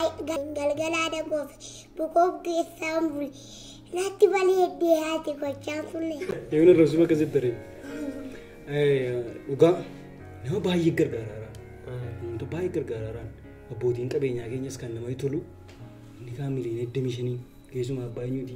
galgalaa dagoof bukoof geessaan buli natti baleeddee haati gochaan sunne. Yoon irra suma keessatti daree. Dhugaa nama baay'ee gargaaraara. Namoota baay'ee gargaaraaraan abbootiin qabeenyaa keenyas kan namatti tolu inni kaan miliyoona 25 keessumaa abbaa eenyuuti.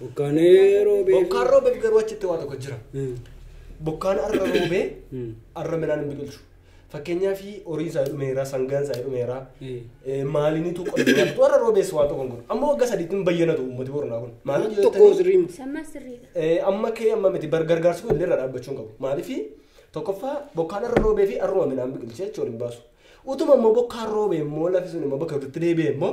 Bokkaanee roobee. Bokkaan roobeef garuu achitti waa tokko jira. Hmm. Bokkaan arra roobee Hmm. arra midhaan hin biqilchu. Fakkeenyaaf horiin isaa dhumeera, sangaan isaa dhumeera, Eh. eh, maalinitu qonnaa tu arra roobees waan tokko hin godhu. Amma waggaa sadiitti hin bayyanatu uummati boronaa kun. Maaliif yoo Tokko ta'e- sirriin. Sammaa sirriidha. Eh, amma kee amma miti bar gargaarsi kun illee irraa dhaabbachuu hin qabu. Maaliif tokkoffaa bokkaan arra roobee fi arruma midhaan biqilchee jechuun hin baasu. Utuma immoo bokkaan roobee immoo lafi sun immoo bakka walitti deebi'e immoo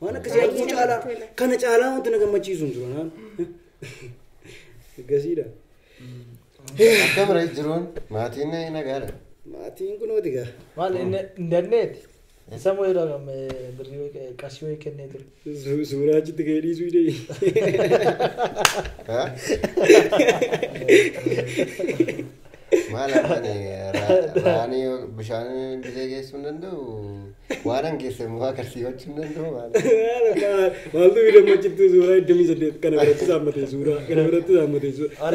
Waan akkasii Baay'ee arguu namatti caalaa tola. kana caalaa wanti na gammachiisu hin jiru naan. Gasiidha. Akka bira jiruun maatiin nagaadha. Maatiin kunooti gaa. Maal hin dandeeti? Isa moo yeroo kam birrii wayii- qarshii wayii kennee ture? Su- Suuraa achitti ka'ee dhiisuu idee. Haa? Maal abbaan raanii bishaan bisee geessuu hin danda'u waan an geesse immoo agarsiifachuu hin danda'u maal. Maaltu bira machitti suuraa iddamii saddeet kana biratti saammatee suuraa kana biratti saammatee suuraa.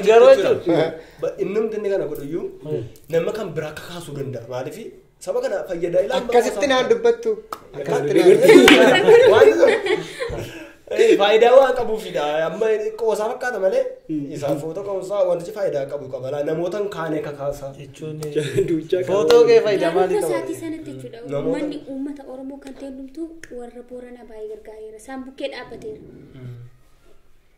Garuu jechuun innumti inni kana godhuyyuu nama kan biraa kakaasuu danda'a maaliif Saba kana fayyada ilaa Akkasitti naan dubbattu. Akkasitti naan dubbattu. Waan Eh, faayidaa waan qabuufidha amma qoosaa fakkaata malee isaan footoo qabuusaa wantichi faayidaa qabu qaba laa namoota hin kaane kakaasaa jechuun Duuchaa qaba. footoo kee faayidaa Naannoo maalii qaba? isaatii sanatti jechuudha. Namoota- Uummanni uummata Oromoo kan ta'e hundumtuu warra Booranaa baay'ee gargaareera. Isaan bukkee dhaabbateera.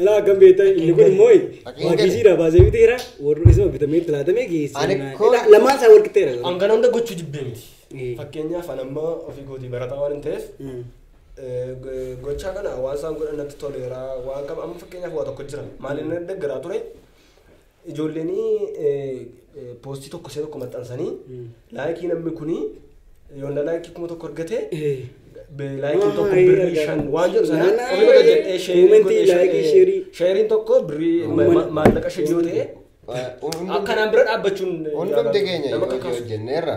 Ala akkam beektaa inni kun immoo maagiisiidha baasee biteera warri isuma bitamee itti laatamee Ani geessee kun- lamaan isaa wal qixxeera. An kana hunda gochuu jibbee miti. Mm. Fakkeenyaaf an amma ofii kootii barataa waan hin ta'eef Mm. eh, go- gochaa kana waan isaan godhan natti toleera waan qaba amma fakkeenyaaf waa tokko jira maaliin na deggaraa ture Ijoolleen poostii tokko ishee tokko maxxansanii laayikii namni kuni yoonna laayikii kuma tokko argate laayikiin tokko birrii shan waan jedhu sana ofii godha jedhee sheeriin tokko birrii maallaqa shan yoo ta'e akkanaan bira dhaabbachuun hundumti keenya yoo hojjenneerra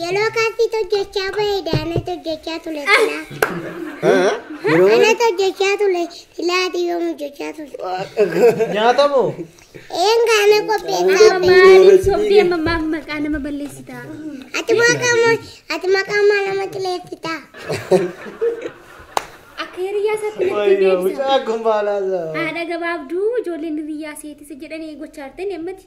Yeroo kaasii hojjechaa ba'e daanatu hojjechaa ture silaa. Yeroo Anatu hojjechaa ture silaa ati yoom hojjechaa ture. Nyaatamu. Een kaana qopheessaa Amma ba'e. maaliif sobdee amma maaf maqaa nama balleessitaa? Ati maqaa ma- ati maqaa maa nama xileessitaa. Akka hiriyaa isaatti natti Wayyo deebisa. mucaa kun baalaa isaa. Haadha gabaabduu ijoolleen hiriyaa seetisa jedhanii gochaartee ni ammati.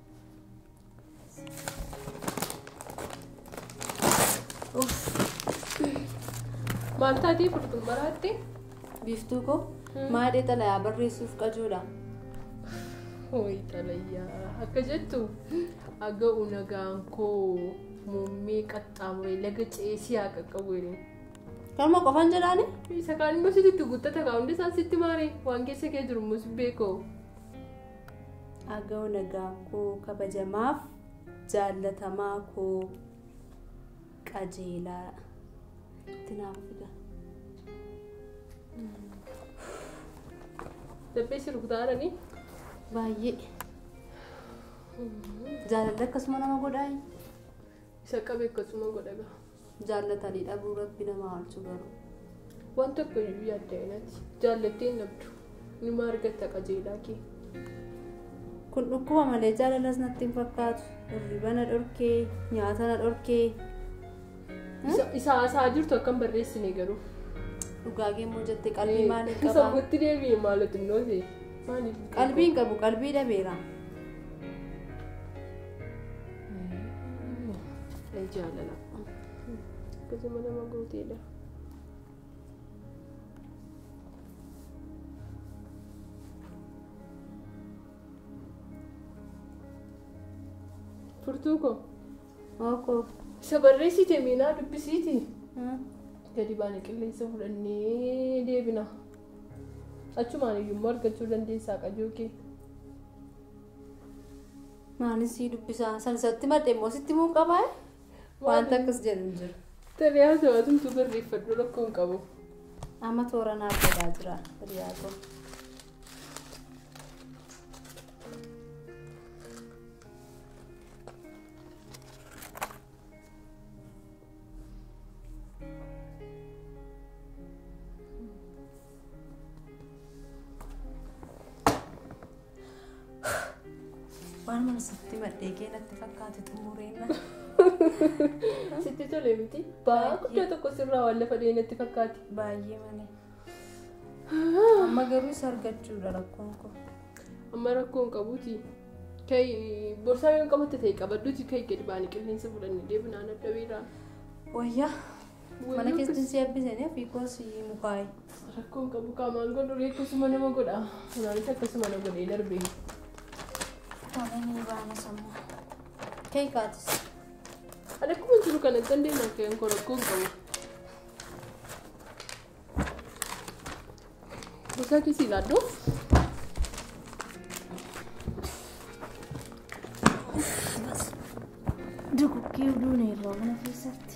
Maal taatee furtuun baraatte? Biiftuu koo maadhee xalayaa barreessuuf qajuudha. Hooyi xalayaa akka jettu aga'u nagaan koo muummee qaxxaamuree laga ceesii haa qaqqabu jedheen. Kanuma qofaan jedhaani? Isa kaan immoo sitti guuttata kaa hundi isaan sitti maaree waan keessa kee jiru immoo si beekoo. Aga'u nagaa koo kabajamaaf jaallatamaa koo qajeelaa itti naaf fida. Dabbee si rukutaa jiranii? Baay'ee jaalalli akkasuma nama godhaa Isa qabe akkasuma godha ga'a. jaallatanii dhabuu rabbi nama haalchu garuu. Waan tokko iyyuu yaadda inati jaallattee hin dhabdu numa argatta qajeelaa kee. Kun dhukkuba malee jaalalas natti hin fakkaatu. Hirriba na dhorkee, nyaata na dhorkee. Isa- Isa haasaa jirtu akka hin barreessine garuu. Dhugaa geemmoo jette qalbii maaliin Kan qabaa? sammuutti deebi'e maaloo xinnoo ta'e. Maaliif? Qalbiin qabu qalbii dhabeera. Ee jaalala. Akkasuma nama gooteedha. Furtuu koo. Ookoo. Isa barreessite miinaa dubbisiiti. Gadi baana qilleensa fudhannee deebina. Achumaan iyyuu immoo argachuu dandeessaa qajoo kee. Maanin sii dubbisaa san isatti madhe immoo sitti muu qabaa wanta akkas jedhu hin jiru. Tarii haa ta'u atumtu barreeffadhu rakkoo hin qabu. Amma toora naaf godhaa jira hiriyaa koo. Waan mana sitti madhee kee natti fakkaate xumureenna. Sitti tole miti. Ba'aa guddaa tokko sirraa waan lafa dhahee natti fakkaate. Baay'ee malee. Amma garuu isa argachuudha rakkoon koo. Amma rakkoo hin qabuuti. Kai borsaa yoo hin qabatte ta'e qabadduuti kai gadi baanii qilleensa fudhannee deebinaan adda beeraa. Wayyaa Mana keessatti si eebbisanii fiikoo si mukaa'e. Rakkoon qabu qaamaan godhu reekkasuma nama godha. Anaanis akkasuma na godhee darbe. Waananii baana sammuu. Kee kaatis. Ani akkuma jiru kanatti dandeenye akka hin koo rakkoon qabu. Bosaa keessi ilaallu. Duguggee duuna irraa mana keessatti.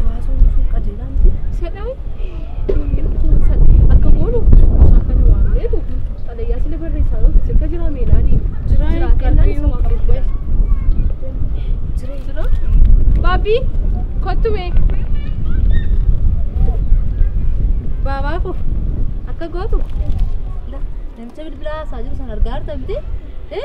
Jaasoo nuusuun qajeelaa miti. Sadhaan akka goonu mucaa kana waamnee nuti xalayaa sila barreessaa yoo ta'e sirka jiraa meelaanii. Jiraa Jiraa hin kennaan qabdu isa yoo waamnee qabdu. jira. Jira. Baabbii kottu mee. Baabaa koo akka gootu. Namicha bilbilaa haasaa jiru sana argaa jirta miti? Eh?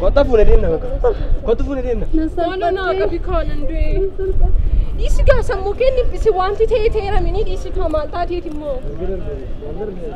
Kota fuudhee deemna bakka. Kota fuudhee deemna. Maaloo naa qabi kaanan du'e. Dhiisi gaa sammuu kee niphisi wanti ta'e ta'eera minii dhiisi kaa maal taateeti immoo.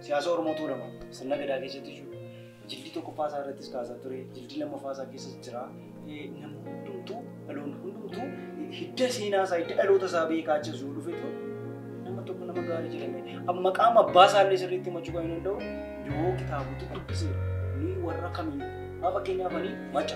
Siyaasa Oromoo Tuulama sirna gadaa keessatti jiru jildii tokkoffaa isaa irrattis kaasaa ture, jildii lammaffaa isaa keessas jira. Namni hundumtuu, dhaloonni hundumtuu hidda seenaa isaa, hidda dhaloota isaa beekaa achi osoo dhufetu nama tokko nama gaarii jedhame. Amma maqaan abbaa isaa illee sirriitti himachuu kan hin danda'u yoo kitaabota dubbise ni warra kamiin. Haa fakkeenyaaf ani maca